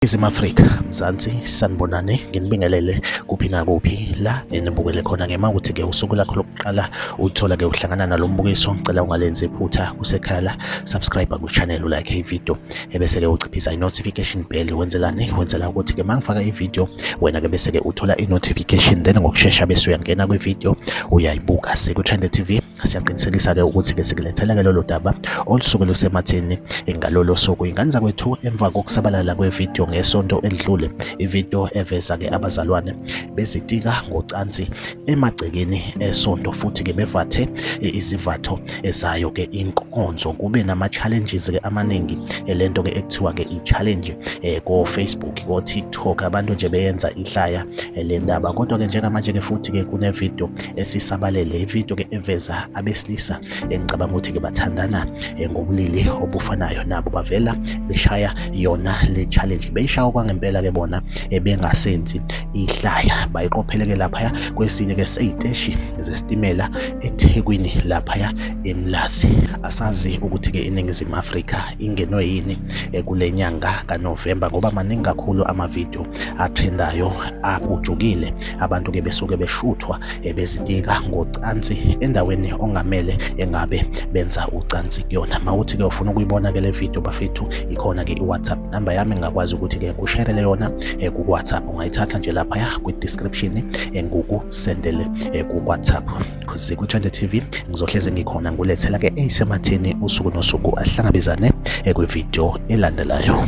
Izim Afrika Mzansi sanibonane nginibingelele kuphi nakuphi la enibukele khona ngema ukuthi ke usuku lakho lokuqala uthola ke uhlangana nalombukiso ngicela ungalenzi iphutha kusekhala subscribe ku channel like i video ebese-ke uchiphisa i-notification bell wenzelani wenzela ukuthi-ke uma ngifaka ividiyo wena-ke bese-ke uthola i-notification then ngokushesha bese uyangena kwividiyo uyayibuka siku-trende tv siyaqinisekisa-ke ukuthi-ke sikulethela-ke lolo daba olusuke lusemathini ngalolo suku ingane zakwethu emva kokusabalala kwevidiyo ngesonto elidlule ividiyo eveza-ke abazalwane bezitika ngocansi emagcekeni esonto futhi ke bevathe eh, izivatho ezayo ke inkonzo kube nama challenges ke amaningi eh, lento ke ekuthiwa ke i challenge eh, ko Facebook ko TikTok abantu nje beyenza ihlaya le ndaba kodwa ke njengamanje ke futhi ke kune video esisabalele i video ke eveza abesilisa engicabanga ukuthi ke bathandana eh, ngobulili obufanayo nabo bavela beshaya yona le challenge beyishaya kwangempela ke bona eh, bengasenzi ihlaya bayiqopheleke laphaya kwesinye ke seyiteshi zesitimela eThekwini laphaya eMlazi asazi ukuthi ke iningizimu Afrika ingenwe yini eh, kule nyanga kaNovember ngoba maningi kakhulu amavideo atrendayo apujukile Abantu ke besuke beshuthwa eh, bezitika ngocansi endaweni ongamele engabe benza ucansi kuyona. Mawuthi ke ufuna ukuyibona ke le video bafethu ikhona ke iWhatsApp number yami ngakwazi ukuthi ke ngikusherele yona eh, ku WhatsApp ungayithatha nje lapha ya kwi description eh, ngukusendele ku WhatsApp. Kuze ku Trend TV ngizohleze ngikhona ngulethela ke eyisematheni usuku nosuku ahlangabezane kwi video elandelayo.